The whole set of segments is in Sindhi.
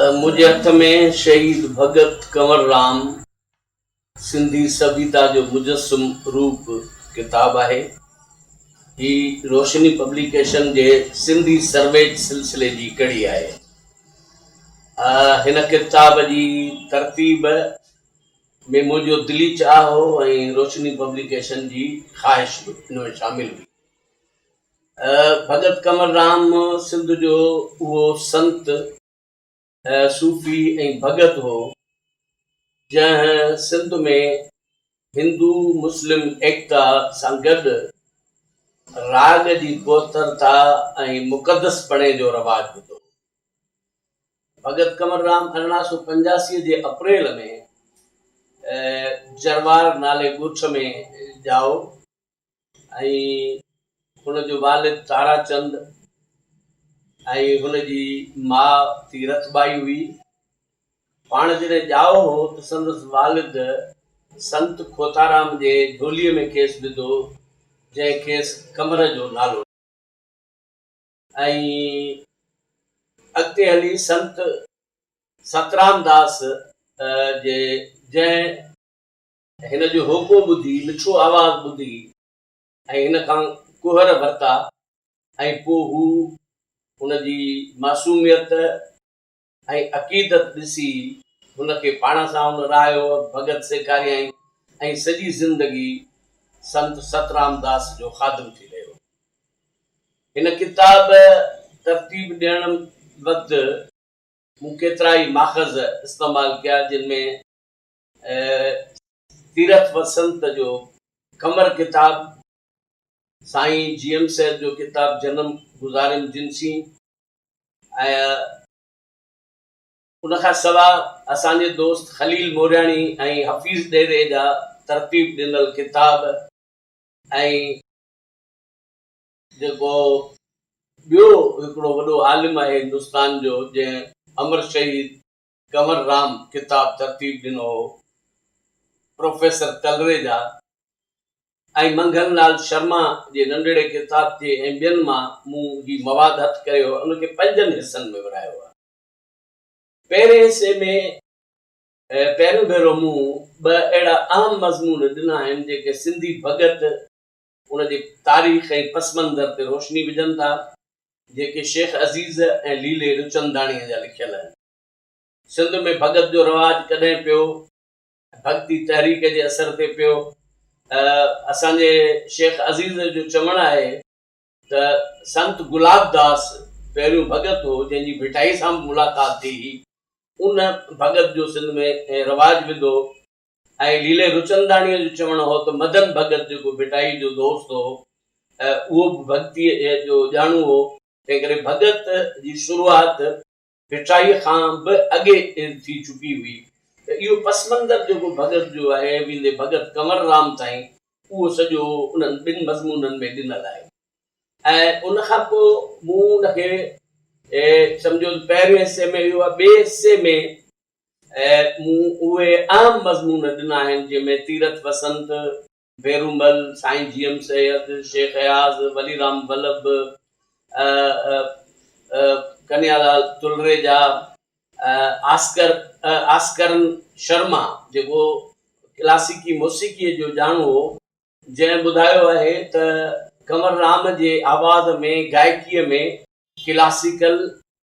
منهنجي هٿ ۾ شهيد ڀڳت ڪنور رام سنڌي سڀيتا جو مجسم روپ ڪتاب آهي. هي روشني پبليڪيشن جي سنڌي سرويچ سلسلي جي ڪڙي آهي. هن ڪتاب جي ترتيب ۾ منهنجو دلي چاهه هو ۽ روشني پبليڪيشن جي خواهش به ان ۾ شامل هئي. ڀڳت ڪنور رام سنڌ جو اهو سنت، صوفي ۽ ڀڳت هو، جنهن سنڌ ۾ هندو مسلم ايڪتا سان گڏ راڳ جي پوئترتا ۽ مقدس پڻي جو رواج وڌو هو. ڀڳت ڪنور رام ارڙهن سؤ پنجاسي جي اپريل ۾ جروار نالي ڳوٺ ۾ ڄائو. ۽ هن جو والد تارا چند ۽ هن جي ماء تيرٿ ٻائي هئي. پاڻ جڏهن ڄائو هو ته سندس والد سنت کوتارام جي جهولي ۾ کيس وڌو، جنهن کيس قمر جو نالو ڏنو. ۽ اڳتي هلي سنت سترام داس جي جنهن. هن جو هوڪو ٻڌي، مٺو آواز ٻڌي ۽ هن کان ڪهر ورتا ۽ پوء هو هن جي معصوميت ۽ عقيدت ڏسي هن کي پاڻ سان هن رهايو، ڀڳت سيکاريائين ۽ سڄي زندگي سنت سترام داس جو خادم ٿي رهيو. هن ڪتاب ترتيب ڏيڻ وقت مون ڪيترائي ماخذ استعمال ڪيا جن ۾. تيرٿ وسنت جو قمر ڪتاب، سائين جي ايم سيد جو ڪتاب جنم گذاريم جنسين ۽ ان کان سوا اسان جي دوست خليل مورياڻي ۽ حفيظ ڏيري جا ترتيب ڏنل ڪتاب ۽ جيڪو ٻيو هڪڙو وڏو عالم آهي هندستان جو جنهن امر شهيد ڪنور رام ڪتاب ترتيب ڏنو هو، پروفيسر ڪلريجا ۽ منگهن لال شرما جي ننڍڙي ڪتابچي ۽ ٻين مان مون هي مواد هٿ ڪريو ۽ ان کي پنجن حصن ۾ ورهايو آهي. پهرين حصي ۾ پهريون ڀيرو مون ٻه اهڙا اهم مضمون ڏنا آهن، جيڪي سنڌي ڀڳت، ان جي تاريخ ۽ پس منظر تي روشني وجهن ٿا، جيڪي شيخ عزيز ۽ ليلي رچنداڻيء جا لکيل آهن. سنڌ ۾ ڀڳت جو رواج ڪڏهن پيو ۽ ڀڳتي تحريڪ جي اثر تي پيو ته اسان جي شيخ عزيز جو چوڻ آهي ته سنت گلاب داس پهريون ڀڳت هو، جنهن جي ڀٽائي سان به ملاقات ٿي هئي. ان ڀڳت جو سنڌ ۾ رواج وڌو ۽ ليلي رچنداڻيء جو چوڻ هو ته مدن ڀڳت جيڪو ڀٽائيء جو دوست هو اهو به ڀڳتيء جو ڄاڻو هو، تنهنڪري ڀڳت جي شروعات ڀٽائيء کان به اڳي ٿي چڪي هئي ته اهو پس منظر جيڪو ڀڳت جو آهي، ويندي ڀڳت ڪنور رام تائين، اهو سڄو انهن ٻن مضمونن ۾ ڏنل آهي ۽ ان کان پوء مون ان کي سمجهيو ته پهرين حصي ۾ اهو ۽ ٻئي حصي ۾ ۽ مون اهي اهم مضمون ڏنا آهن جن ۾ تيرٿ وسنت، ڀيرومل، سائين جي ايم سيد، شيخ اياز، ولي رام ولڀ، ۽ ڪنهيا لال تلريجا، آسڪر آسڪرن شرما جيڪو ڪلاسيڪي موسيقيء جو ڄاڻو هو، جنهن ٻڌايو آهي ته ڪنور رام جي آواز ۾ گائڪيء ۾ ڪلاسيڪل،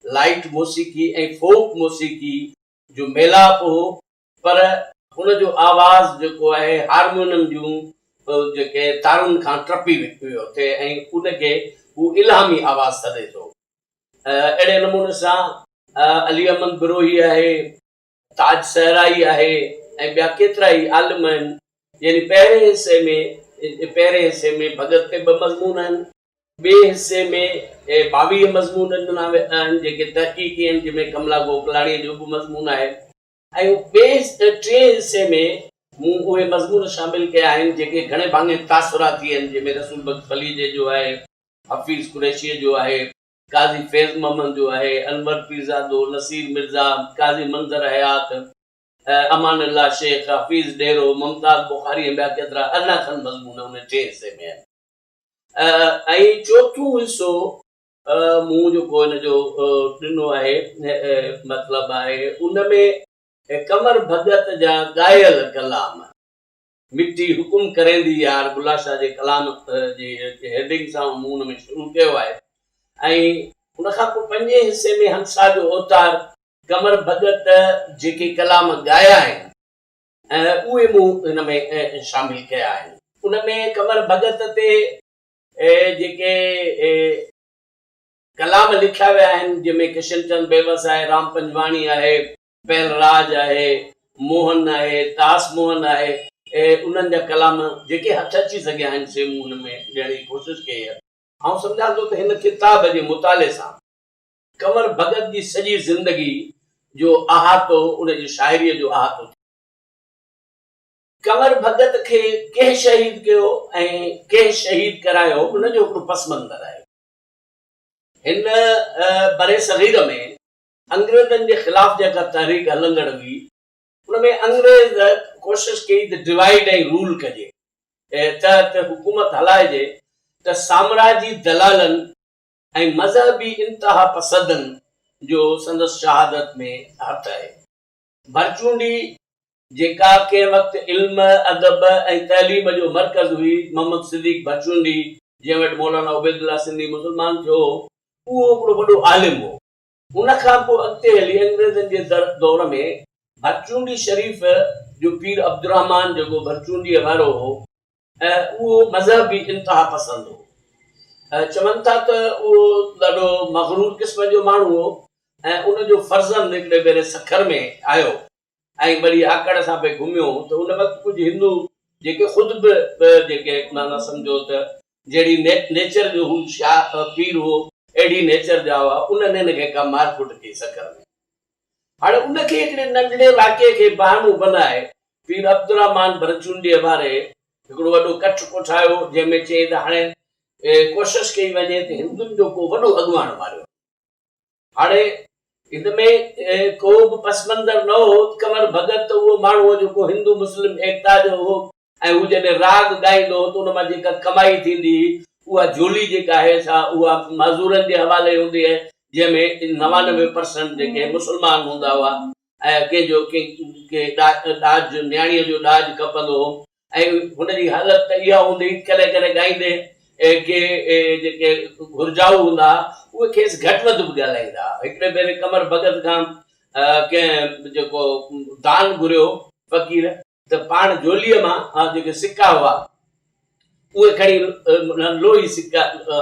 لائيٽ موسيقي ۽ فوڪ موسيقي جو ميلاپ هو پر هن جو آواز جيڪو آهي هارمونم جون جيڪي تارن کان ٽپي ويو ٿي ۽ ان کي هو الهامي آواز سڏي ٿو. اهڙي نموني سان علي احمد بروهي آهي تاج صحرائي آهي ۽ ٻيا ڪيترا ئي عالم آهن. يعني پهرين حصي ۾ پهرين حصي ۾ ڀڳت تي ٻه مضمون آهن. ٻئي حصي ۾ ٻاويهه مضمون ڏنا ويا آهن جيڪي تحقيقي آهن جنهن ۾ ڪملا گوڪلاڻيء جو به مضمون آهي. ۽ ٻئي ٽئين حصي ۾ مون اهي مضمون شامل ڪيا آهن جيڪي گهڻي ڀاڱي تاثراتي آهن جنهن ۾ رسول بخش پليجي جو آهي، حفيظ قريشيء جو آهي، قاضي فيض محمد جو آهي، انور پيرزادو، نصير مرزا، قاضي منظر حيات، امان الله شيخ، حفيظ ڏيرو، ممتاز بخاري ۽ ٻيا ڪيترا ارڙهن کن مضمون ان ٽئين حصي ۾ آهن ۽ چوٿون حصو مون جيڪو ان جو ڏنو آهي مطلب آهي ان ۾ قمر ڀڳت جا ڳايل ڪلام. مٺي حڪم ڪريندي يار بلا شاهه جي ڪلام جي هيڊنگ سان مون ان ۾ شروع ڪيو آهي ۽ ان کان پوء پنجين حصي ۾ همسا جو اوتار قمر ڀڳت جيڪي ڪلام ڳايا آهن اهي مون هن ۾ شامل ڪيا آهن. ان ۾ قمر ڀڳت تي جيڪي ڪلام لکيا ويا آهن جنهن ۾ ڪشن چند بيوس آهي، رام پنجواڻي آهي، پهل راج آهي، موهن آهي، داس موهن آهي، انهن جا ڪلام جيڪي هٿ اچي سگهيا آهن، سي مون هن ۾ ڏيڻ جي ڪوشش ڪئي آهي. آئون سمجهان ٿو ته هن ڪتاب جي مطالعي سان ڪنور ڀڳت جي سڄي زندگي جو احاطو، ان جي شاعريء جو احاطو ٿئي. ڪنور ڀڳت کي ڪنهن شهيد ڪيو ۽ ڪنهن شهيد ڪرايو، ان جو هڪڙو پس منظر آهي. هن برصغير ۾ انگريزن جي خلاف جيڪا تحريڪ هلندڙ هئي، ان ۾ انگريز ڪوشش ڪئي ته ڊوائيڊ ۽ رول ڪجي تحت حڪومت هلائجي ته سامراجي دلالن ۽ مذهبي انتهاپسدن جو سندس شهادت ۾ هٿ آهي. ڀرچونڊي جيڪا ڪنهن وقت علم، ادب ۽ تعليم جو مرڪز هئي، محمد صديق ڀرچونڊي جنهن وٽ مولانا عبيدالله سنڌي مسلمان ٿيو هو، اهو هڪڙو وڏو عالم هو. ان کان پوء اڳتي هلي انگريزن جي دور ۾ ڀرچونڊي شريف جو پير عبدالرحمان جيڪو ڀرچونڊيء وارو هو اهو مذهبي انتها پسند هو. چون ٿا ته اهو ڏاڍو مغرور قسم جو ماڻهو هو ۽ ان جو فرزند هڪڙي ڀيري سکر ۾ آيو ۽ ٻڙي آڪڙ سان پئي گهميو ته ان وقت ڪجهه هندو جيڪي خود به به جيڪي معنيٰ سمجهو ته جهڙي نيچر جو هو شاهه پير هو اهڙي نيچر جا هئا انهن هن کي ڪا مار ڪٽ ڪئي سکر ۾. هاڻي ان کي هڪڙي ننڍڙي واقعي کي بهانو بنائي پير عبدالرحمان ڀرچونڊيء واري هڪڙو وڏو ڪٺ ڪوٺايو جنهن ۾ چيائين ته هاڻي ڪوشش ڪئي وڃي ته هندن جو ڪو وڏو اڳواڻ ماريو وڃي. هاڻي ان ۾ ڪو به پس منظر نه هو، ڪنور ڀڳت ته اهو ماڻهو هو جيڪو هندو مسلم ايڪتا جو هو ۽ هو جڏهن راڳ ڳائيندو هو ته ان مان جيڪا ڪمائي ٿيندي هئي اها جهولي جيڪا آهي سا اها معذورن جي حوالي هوندي هئي جنهن ۾ نوانوي پرسنٽ جيڪي مسلمان هوندا هئا ۽ ڪنهن جو ڪنهن کي ڏاج نياڻيء جو ڏاج کپندو هو ۽ هن جي حالت ته اها هوندي ڪڏهن ڪڏهن ڳائيندي ڪي جيڪي گهرجائو هوندا ها اهي کيس گهٽ وڌ به ڳالهائيندا ها. هڪڙي ڀيري قمر ڀڳت کان ڪنهن جيڪو دان گهريو فقير ته پاڻ جهوليء مان جيڪي سڪا هئا اهي کڻي لوهي سڪا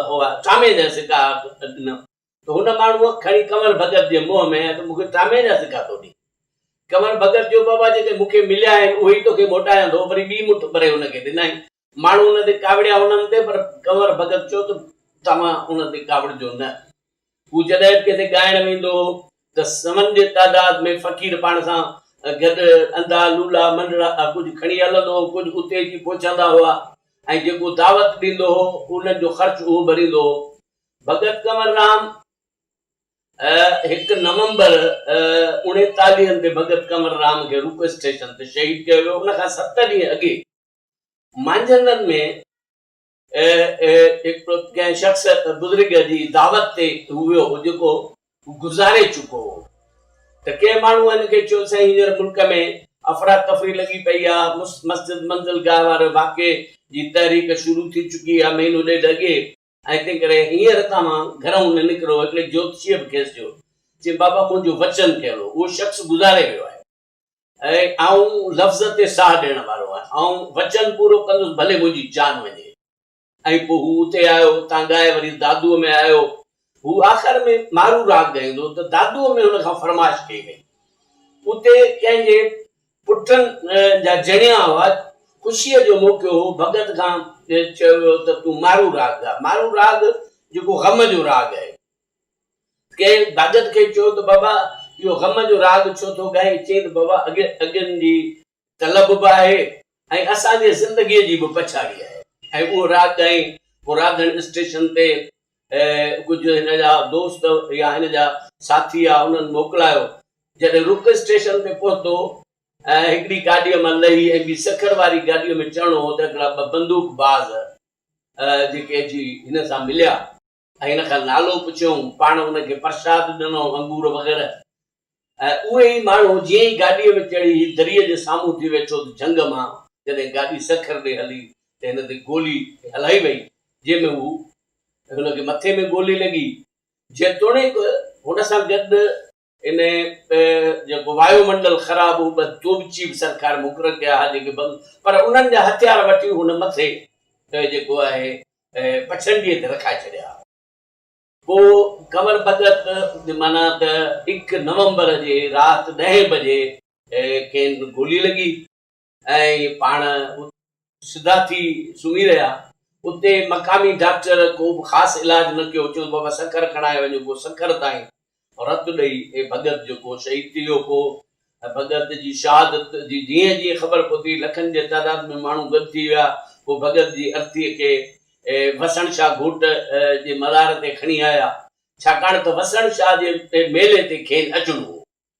هئا چانئي جا سڪا ڏنم. ته هن ماڻهوء کڻي ڪنور ڀڳت جي منهن ۾ هنيس ته مون کي ڊرامي جا سڪا ٿو ڏين. ڪنور ڀڳت چيو بابا جيڪي مون کي مليا آهن اهي ئي توکي موٽايان ٿو. وري ٻي مٺ ڀري هن کي ڏنائين. ماڻهو هن تي ڪاوڙيا هنن تي پر ڪنور ڀڳت چيو ته توهان هن تي ڪاوڙجو نه. هو جڏهن به ڪٿي ڳائڻ ويندو هو ته سون جي تعداد ۾ فقير پاڻ سان گڏ اندا، لولا، منڊڙا ڪجهه کڻي هلندو هو، ڪجهه اتي اچي پهچندا هئا ۽ جيڪو دعوت ڏيندو هو انهن جو خرچ اهو ڀريندو هو. ڀڳت ڪنور رام، هڪ نومبر، اڻيتاليهن تي ڀڳت ڪنور رام کي روڪو اسٽيشن تي شهيد ڪيو ويو. ان کان ست ڏينهن اڳي مانجهندن ۾ هڪ ڪنهن شخص بزرگ جي دعوت تي هو ويو هو، جيڪو گذاري چڪو هو ته ڪنهن ماڻهو هن کي چيو، سائين هينئر ملڪ ۾ افراتفري لڳي پئي آ، مسجد منزلگاهه واري واقعي جي تحريڪ شروع ٿي چڪي آ، مهينو ڏيڍ اڳي ۽ تنهن ڪري هينئر هتان مان گهر مان نه نڪرو. هڪڙي جوتشيء به کيس چيو. چيائين، بابا، منهنجو وچن ڪيل هو، اهو شخص گذاري ويو آهي ۽ آئون لفظ تي ساهه ڏيڻ وارو آهيان. آئون وچن پورو ڪندس، ڀلي منهنجي جان وڃي. ۽ پوء هو اتي آيو، اتان ڳائي وري دادوء ۾ آيو. هو آخر ۾ مارو راڳ ڳائيندو هو ته دادوء ۾ هن کان فرمائش ڪئي وئي. اتي ڪنهن جي پٺن جا جڻيا هئا، خوشيء جو موقعو هو، ڀڳت کان چيو ويو ته تون مارو راڳ ڳا، مارو راڳ جيڪو غم جو راڳ آهي. ڪنهن ڀڳت کي چيو ته بابا اهو غم جو راڳ ڇو ٿو ڳائين؟ چيائين ته بابا اڳ اڳين جي طلب به آهي ۽ اسان جي زندگيء جي به پڇاڙي آهي ۽ اهو راڳ ڳائين، پوء راڌڻ اسٽيشن تي ۽ ڪجهه هن جا دوست يا هن جا ساٿي يا انهن موڪلايو. جڏهن رڪ اسٽيشن تي پهتو ۽ هڪڙي گاڏيء مان لهي ۽ ٻي سکر واري گاڏيء ۾ چڙهڻو هو ته هڪڙا ٻه بندوق باز جيڪي اچي هن سان مليا. ۽ هن کان نالو پڇيائون. پاڻ هن کي پرشاد ڏنو، انگور وغيره. ۽ اهي ئي ماڻهو جيئن ئي گاڏيء ۾ چڙهي هي دريء جي سامهون ٿي ويٺو ته جهنگ مان جڏهن گاڏي سکر ڏي هلي ته هن تي گولي هلائي وئي جنهن ۾ هو هن کي مٿي ۾ گولي لڳي جيتوڻيڪ هن سان گڏ ان جيڪو وايو منڊل خراب هو ٻه توبچي به سرڪار مقرر ڪيا ها جيڪي بند پر انهن جا هٿيار وٺي هن مٿي جيڪو آهي پڇنڊيء تي رکائي ڇڏيا ها. پوء قمر بدت جي معنيٰ ته هڪ نومبر جي رات ڏهين بجي. کين گولي لڳي ۽ پاڻ اتي سڌا ٿي سمهي رهيا. اتي مقامي ڊاڪٽر ڪو به خاص علاج نه ڪيو. چيو بابا سکر کڻائي وڃو. پوء سکر تائين رت ڏئي اي ڀڳت جيڪو شهيد ٿي ويو ڪو ۽ ڀڳت جي شهادت جي جيئن جيئن خبر پهتي لکن جي تعداد ۾ ماڻهو گڏ ٿي ويا پوء ڀڳت جي ارٿيء کي وسڻ شاهه گهوٽ جي مزار تي کڻي آيا ڇاڪاڻ ته وسڻ شاهه جي ميلي تي کين اچڻو هو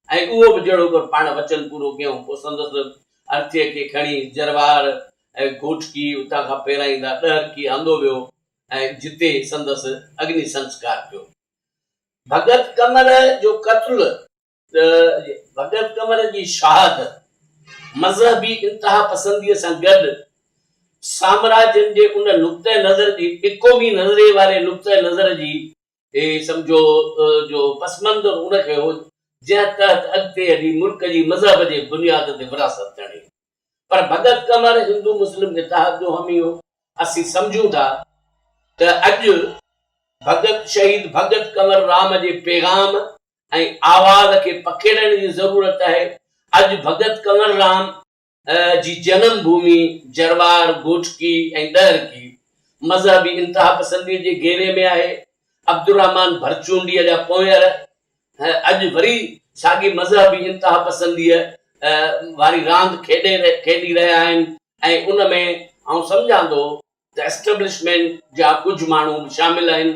۽ اهو به جهڙوڪر پاڻ وچن پورو ڪيائون پوء سندس ارٿيء کي کڻي جروار ۽ گهوٽڪي اتان کان پيرائيندا ڏهرڪي آندو ويو ۽ جتي سندس اگني سنسڪار ٿيو ڀڳت قمر جو قتل ته ڀڳت قمر جي شهادت مذهبي انتهاپسنديء سان گڏ سامراجين جي ان نقطه نظر جي اقومي نظريي واري نقطه نظر جي سمجهو جو پس منظر ان کي هو جنهن تحت اڳتي هلي ملڪ جي مذهب جي بنياد تي ورهاست چڙهي. پر ڀڳت ڪنور هندو مسلم اتحاد جو حامي هو. اسين سمجهون ٿا ته اڄ ڀڳت شهيد ڀڳت ڪنور رام جي پيغام ۽ آواز کي پکيڙڻ جي ضرورت آهي. اڄ ڀڳت ڪنور رام جي جنم ڀومي جروار، گوٺڪي ۽ ڏهرڪي مذهبي انتهاپسندي جي گهيري ۾ آهي. عبدالرحمان ڀرچونڊيء جا پونئر اڄ وري ساڳي مذهبي انتهاپسنديء واري راند کيڏي رهيا آهن ۽ ان ۾ آئون سمجهان ٿو ته اسٽيبلشمينٽ جا ڪجهه ماڻهو به شامل آهن.